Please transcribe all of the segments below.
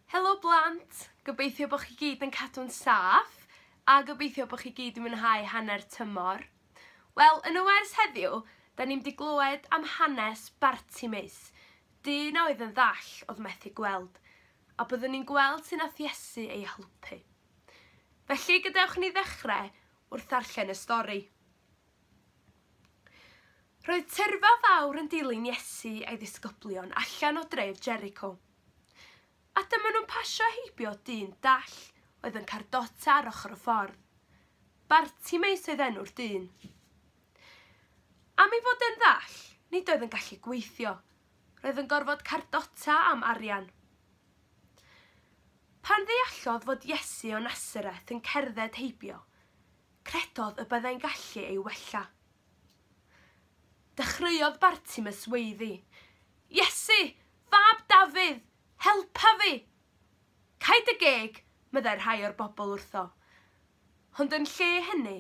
Helo blant! Gobeithio bo chi gyd yn cadw'n saff a gobeithio bo chi gyd yn mwynhau hanner tymor. Wel, yn y wers heddiw, 'da ni'n mynd i glywed am hanes Bartimeus, dyn a oedd yn ddall, oedd methu gweld, a byddwn ni'n gweld sut nath Iesu ei helpu. Felly, gadewch ni ddechrau wrth ddarllen y stori. Roedd tyrfa fawr yn dilyn Iesu a'i ddisgyblion allan o dref Jericho. A dyma nhw'n pasio heibio dyn dall oedd yn cardota ar ochr y ffordd. Bartimeus oedd enw'r dyn. Am ei fod yn ddall, nid oedd yn gallu gweithio. Roedd yn gorfod cardota am arian. Pan ddeallodd fod Iesu o Nasareth yn cerdded heibio, Credodd y byddai'n gallu ei wella. Dechreuodd Bartimus weiddi, Iesu, fab Dafydd, helpa fi! Caed dy geg, meddai rhai o'r bobl wrtho. Ond yn lle hynny,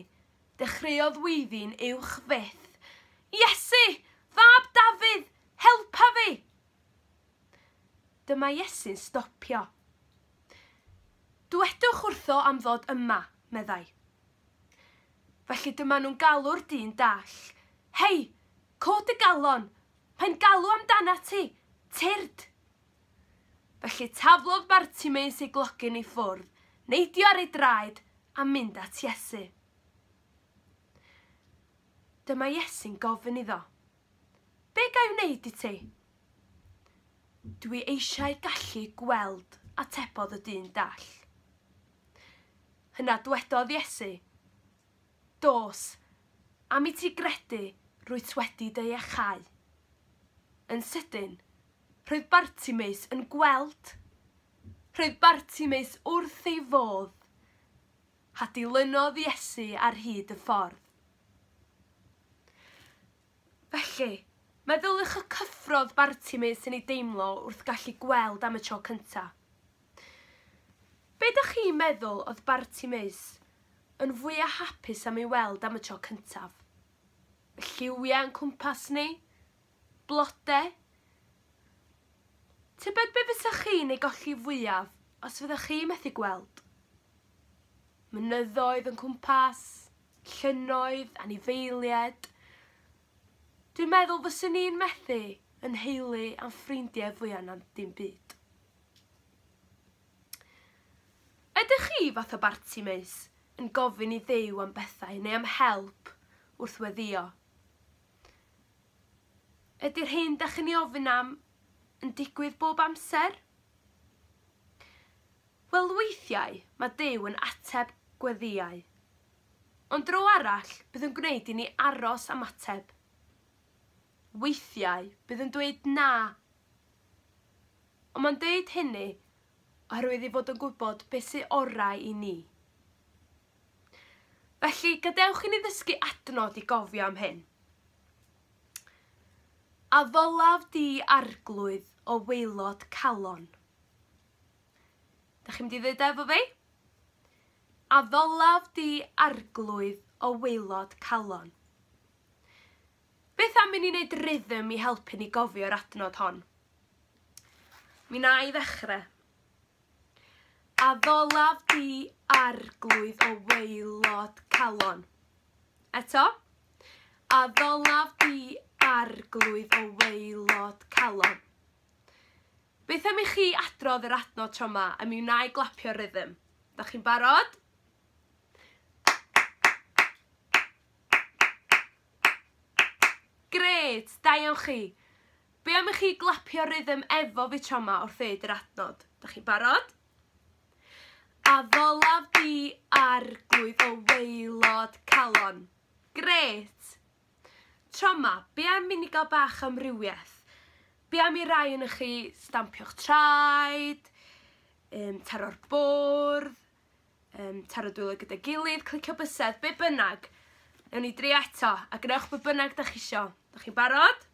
dechreuodd weiddi'n uwch fyth, Iesu, fab Dafydd, helpa fi! Dyma Iesu'n stopio. Dywedwch wrtho am ddod yma, meddai. Felly dyma nhw'n galw'r dyn dall. Hei, cod dy galon! Mae'n galw amdanat ti! Tyrd! Felly taflodd Bartimeus ei glogyn i ffwrdd, neidio ar ei draed, a mynd at Iesu. Dyma Iesu'n gofyn iddo. Be ga i wneud i ti? Dw i eisiau gallu gweld, atebodd y dyn dall. Yna dwedodd Iesu, Dos, am i ti gredu, rwyt wedi dy iachau. Yn sydyn, roedd Bartimeus yn gweld! Roedd Bartimeus wrth ei fodd! a dilynodd Iesu ar hyd y ffordd. Felly, meddyliwch y cyffrodd Bartimaeus yn ei deimlo wrth gallu gweld am y tro cynta'. Be' 'dach chi'n meddwl oedd Bartimaeus yn fwya' hapus am ei weld am y tro cyntaf? Y lliwiau o'n cwmpas ni? Blode, Tybed be fysech chi'n ei golli fwyaf os fyddech chi methu gweld? Mynyddoedd yn cwmpas, llynnoedd, anifeilied. Dwi'n meddwl fyswn i'n methu yn nheulu a'n ffrindiau fwyaf na dim byd. Ydych chi fath o barti meus yn gofyn i ddew am bethau neu am help wrth weddio? Ydy'r hyn da chi'n ei ofyn am yn digwydd bob amser? Wel weithiau mae Duw yn ateb gweddïau. Ond dro arall bydd yn gwneud i ni aros am ateb. Weithiau bydd yn dweud na. Ond mae'n dweud hynny oherwydd ei fod yn gwybod beth sy'n orau i ni. Felly, gadewch i ni ddysgu adnod i gofio am hyn. A ddylaf di arglwydd o weilod calon? Da chi'n mynd i ddweud efo fi? A ddylaf di arglwydd o weilod calon? Beth am i ni wneud rhythm i helpu ni gofio'r adnod hon? Mi na i ddechrau. A ddolaf di arglwydd o waelod calon. Eto. A ddolaf di arglwydd o waelod calon. Beth am i chi adrodd yr adnod tro yma a mi wna i glapio'r rhythm. Da chi'n barod? Grêt! Da iawn chi! Be am i chi glapio rhythm efo fi tro ma wrth ddeud yr adnod? Da chi'n barod? A ddollaf di arglwydd o waelod calon. Grêt! Tro ma, be am i ni gael bach amrywiaeth? Be am i rai yn chi stampio'ch traed, um, taro'r bwrdd, um, taro dwylo gyda gilydd, clicio bysedd, be bynnag. Ewn ni dri eto, a gwnewch be bynnag da chi isio. Da chi'n barod?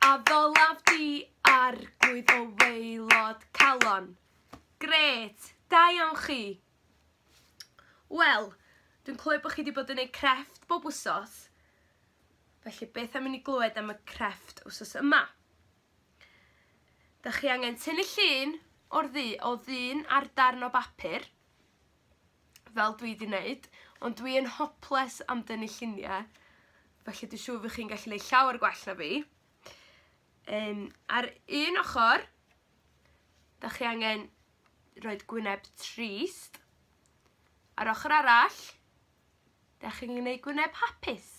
A ddolaf di ar gwyd o weilod calon. Gret, da iawn chi. Wel, dwi'n clywed bod chi wedi bod yn ei crefft bob wsos. Felly, beth am i ni glywed am y crefft wsos yma? Da chi angen tynnu llun o'r ddu o ddyn ar darn o bapur, fel dwi di neud, ond dwi yn hoples am dynnu llunie, felly dwi'n siŵr fy chi'n gallu neud llawer gwell na fi. Um, ar un ochr, da chi angen roed gwyneb trist. Ar ochr arall, da chi'n gwneud gwyneb hapus.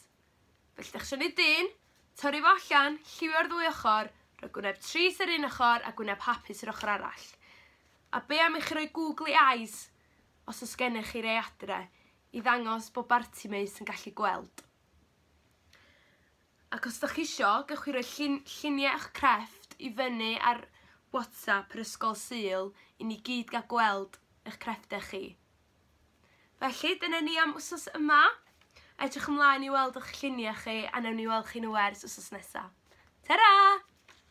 Felly dach isio neud dyn, torri fo allan, lliwio ar ddwy ochr, rhoi gwyneb tris ar un ochr a gwyneb hapus yr ochr arall. A be am i chi roi googly eyes, os oes gennych chi rei adre, i ddangos bod Bartimaeus yn gallu gweld. Ac os ydych chi isio, gewch chi roi llun, lluniau eich crefft i fyny ar WhatsApp yr Ysgol Sul i ni gyd gael gweld eich crefftau chi. Felly, dyna ni am wsos yma. Edrych ymlaen i weld o'ch lluniau chi a newn ni weld chi nhw ers wsos nesa. Ta-ra!